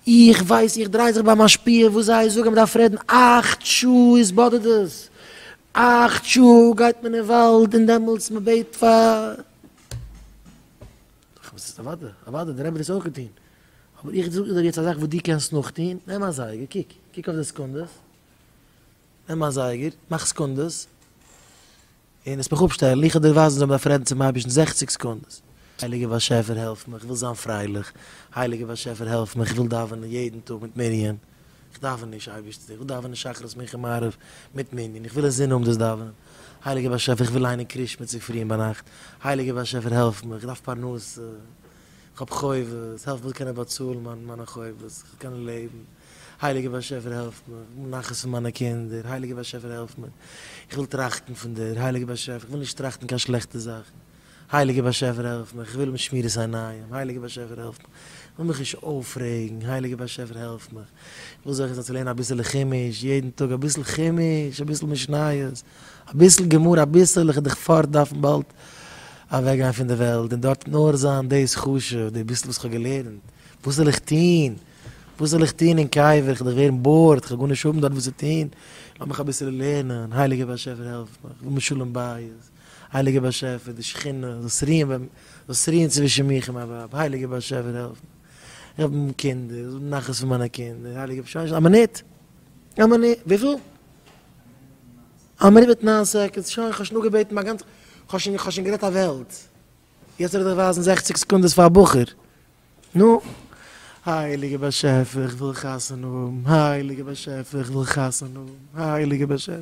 איך ווייס איך דריי זיך ביי משפיע וואס זיי זאגן מ'דארף רעדן אַכט שעה איז באדערט עס אַכט שעה גייט מען אין וואלד און דעמאלטס מ'בעט פאר אוודאי אוודאי דער רבי האט דאס אויך געטון אבער איך זאג דיר יעצט א זאך וואס דו קענסט נאכטון נעם א זייגער קוק קוק אויף די סעקונדעס נעם א זייגער מאך סעקונדעס. און עס מיך אפשטעלן, איך האב דיר ווייזן זאל מען דארף רעדן צום אייבערשטן זעכציק סעקונדעס. הייליגער באשעפער העלף מיך, איך וויל זיין פרייליך, הייליגער באשעפער העלף מיך, איך וויל דאווענען יעדן טאג מיט מנין, איך דאווען נישט אייבערשטער, איך וויל דאווענען שחרית מנחה מעריב מיט מנין, איך וויל אין זין האבן דאס דאווענען, הייליגער באשעפער איך וויל ליינען קרישמע צופרי און ביינאכט, הייליגער באשעפער העלף מיך, איך דארף פרנסה, כ'האב חובות, העלף מיר קענען באצאלן מיין מיינע חובות, איך וויל קענען לעבן, הייליגער באשעפער העלף מיר, כ'וויל נחת פון מיינע קינדער, הייליגער באשעפער העלף מיר, איך וויל טראכטן פון דיר, הייליגער באשעפער, איך וויל נישט טראכטן קיין שלעכטע זאכן, הייליגער באשעפער העלף מיר, כ'וויל האבן שמירת עיניים, הייליגער באשעפער העלף מיר, איך וויל מיך נישט אויפרעגן, הייליגער באשעפער העלף מיר, איך וויל זוכה זיין צו לערנען אביסעלע חומש, יעדן טאג אביסל חומש, אביסל משניות. אביסל געמאר אביסל, איך דיך פארט דארפן באלד אוועק גיין פון די וועלט און דארט נאר זיין דאס חשוב, די ביסל וואס איך האב געלערנט, וואס זאל איך טון, וואס זאל איך טון אין קבר, איך דיך ווערן בארד, איך וועל גארנישט האבן דארט וואס צו טון, לאז מיך אביסל לערנען, הייליגער באשעפער העלף מיך, איך וויל מיר שלום בית, הייליגער באשעפער די שכינה זאלסט רוען ביי מיר, זאלסט רוען צווישן מיך און מיין ווייב, הייליגער באשעפער העלף מיך, איך האב קינדער, איך וויל נחת פון מיינע קינדער, הייליגער באשעפער, א מינוט. האו מעני? וויפיל? א מינוט מיט נײַן סעקאנדס, שוין איך האב שוין אפגעבעטן מיין גאנצע, איך האב שוין איך האב שוין גערעדט א וועלט, יעצט זאל איך דיך ווייזן זעכציק סעקונדעס פאר א בחור? נו. הייליגער באשעפער איך וויל חתונה האבן, הייליגער באשעפער איך וויל חתונה האבן, הייליגער באשעפער.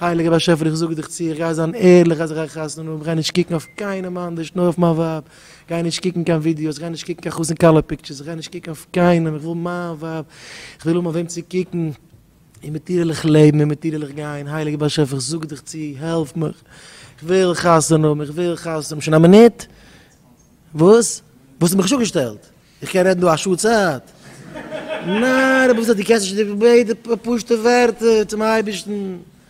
הייליגער באשעפער איך זאג דיך צו איך גיי זיין ערליך אז איך גיי חתונה האבן, איך גיי נישט קוקן אויף קיינעם אנדערש נאר אויף מיין ווייב, איך גיי נישט קוקן קיין ווידיאוס, איך גיי נישט קוקן קיין חתן כלה פיקטשערס, איך גיי נישט קוקן אויף קיינעם, איך וויל מיין ווייב, איך וויל האבן אויף וועם צו קוקן, און מיט איר וויל איך לעבן און מיט איר וויל איך גיין, הייליגער באשעפער איך זאג דיך צו העלף מיך, איך וויל חתונה האבן, איך וויל חתונה האבן, שוין א מינוט? וואס? וואלסטו מיך נישט אפגעשטעלט? איך קען רעדן דא א שעה צייט. נאר רבי ז ל דו קענסט נישט די ביידע פשוט'ע ווערטער צום אייבערשטן.